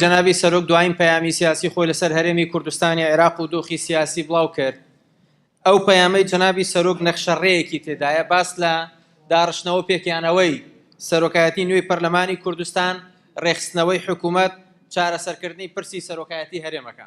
جەنابی سەرۆک دوایین پەیامی سیاسی خۆی لەسەر هەرێمی کوردستانی عێراق و دۆخی سیاسی بڵاو کرد ئەو پەیامەی جەنابی سەرۆک نەخشەڕێیەکی تێدایە باس لە داڕشتنەوە پێکیانەوەی سەرۆکایەتی نوێی پەرلەمانی کوردستان ڕێخستنەوەی حکوومەت چارەسەرکردنی پرسی سەرۆکایەتی هەرێمەکە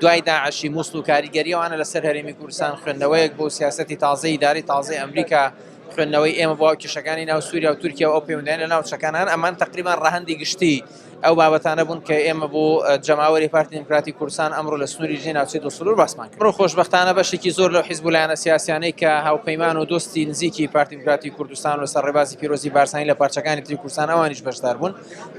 دوای داعشی موسڵ و کاریگەری ئەوانە لەسەر هەرێمی کوردستان خوێندنەوەیەک بۆ سیاسەتی تازەی ئیدارەی تازەی ئەمریکا خوێندنەوەی ئێمە بۆ کێشەکانی ناو سووریا و تورکیا و ئەو پەیوەندیان لە ناوچەکان هەن ئەمان تقریبان ڕەهەندی گشتی ئەو بابەتانە بوون کە ئێمە بۆ جەماوەری پارتی دیموکراتی کوردستان ئەمڕۆ لە سنووری ژێ ناوچەی دو سنوور باسمان کرد ڕۆ خۆشببختانە بەشێکی زۆر لەو حیزب لایەنە سیاسیانەی کە هاوپەیمان و دۆستی نزیکی پارتی دیموکراتی کوردستان و سەر ڕێبازی پیرۆزی بارسانی لە پارچەکانی تری کوردستان ئەوانیش بەشدار بوون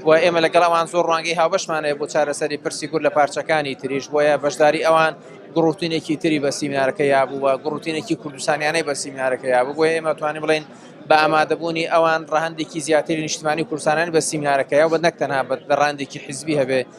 و ئێمە لەگەڵ ئەوان زۆر ڕوانگەی هاوبەشمان هەیە بۆ چارەسەری پرسی کورد لە پارچەکانی تریش بۆیە بەشداری ئەوان گڕوتینێکی تری بە سیمینارەکە یابوو و گڕوتینێکی کوردستانیانەی بە سیمینارەکە یابوو بۆیە ئێمە توانی بڵین بە ئامادەبوونی ئەوان ڕەهندێکی زیاتری نیشتمانی کوردستانیان بە سیمینارەکەیە و بە نەک تەنها بە ڕاندێکی حزبی هەبێ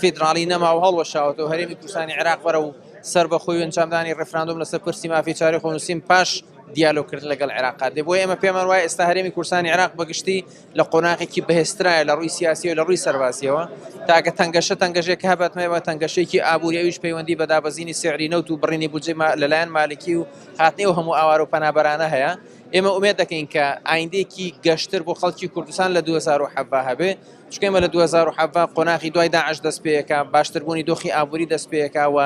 فیدراڵی نەما و هەڵوەشاوەتەوە، هەرێمی کوردستانی عێراق بەرەو سەربەخۆیی و ئەنجامدانی ڕیفراندۆم لەسەر پرسی مافی چارەی خۆنووسین پاش دیالۆگکردن لەگەڵ عێراق دێ، بۆیە ئێمە پێمان وایە ئێستا هەرێمی کوردستانی عێراق بەگشتی لە قۆناغێکی بەهێزترایە لە ڕووی سیاسییەوە لە ڕووی سەربازییەوە، تاکە تەنگەشە تەنگەژێک کە هەبێت مەبێت تەنگەشێکی ئابووری ئەویش پەیوەندی بە دابەزینی سیعری نەوت و بڕینی بودجەی لەلایەن مالکی و هاتنی ئەو هەموو ئاوارە و پەنابەرانە هەیە، ئێمە ئومێد دەکەین کە ئایندەیەکی گەشتر بۆ خەڵکی کوردستان لە دوو هەزار و حەڤدە هەبێ. چونکە ئێمە لە دوو هەزار و حەڤدە قۆناغی دوای داعش دەست پێیەکە، باشتربوونی دۆخی ئابووری دەست پێیەکە و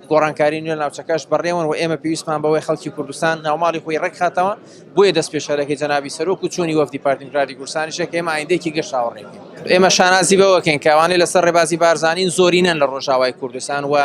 گۆڕانکاری نوێ لە ناوچەکەش بەڕێوەن و ئێمە پێویستمان بەوەی خەڵکی کوردستان ناوماڵی خۆی ڕێکخاتەوە، بۆیە دەستپێشخەرەکەی جەنابی سەرۆک و چوونی وەفدی پارتی دیموکراتی کوردستانیشە کە ئێمە ئایندەیەکی گەش چاوەڕێ بکەین. ئێمە شانازی بەوە دەکەین کە ئەوانەی لەسەر ڕێبازی بارزانین زۆرینەن لە ڕۆژاوای کوردستان و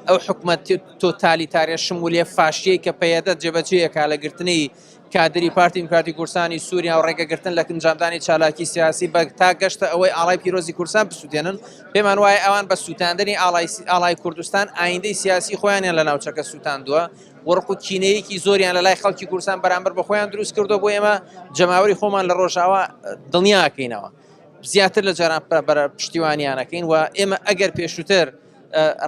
ئەو حکومەت تۆتالیتارە شمولیە فاشیەی کە پەیەدە جێبەجێیەکا لە گرتنی کادری پارتی دیموکراتی کوردستانی سووریا و ڕێگەگرتن لە ئەنجامدانی چالاکی سیاسی بە تا گەشتە ئەوەی ئاڵای پیرۆزی کوردستان بسووتێنن پێمان وایە ئەوان بە سووتاندنی ئاڵای ئاڵای کوردستان ئایندەی سیاسی خۆیانیان لە ناوچەکە سووتاندووە وەڕق و کینەیەکی زۆریان لە لای خەڵکی کوردستان بەرامبەر بە خۆیان دروست کردو بۆ ئێمە جەماوەری خۆمان لە ڕۆژاوا دڵنیاکەینەوە زیاتر لە جاران پشتیوانیانەکەین و ئێمە ئەگەر پێشووتر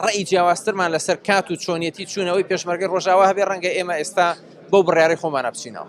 ڕەئی جیاوازترمان لەسەر کات و چۆنیەتی چوونەوەی پێشمەرگەی ڕۆژاوا هەبێ ڕەنگە ئێمە ئێستا بەو بڕیارەی خۆمانە بچینەوە.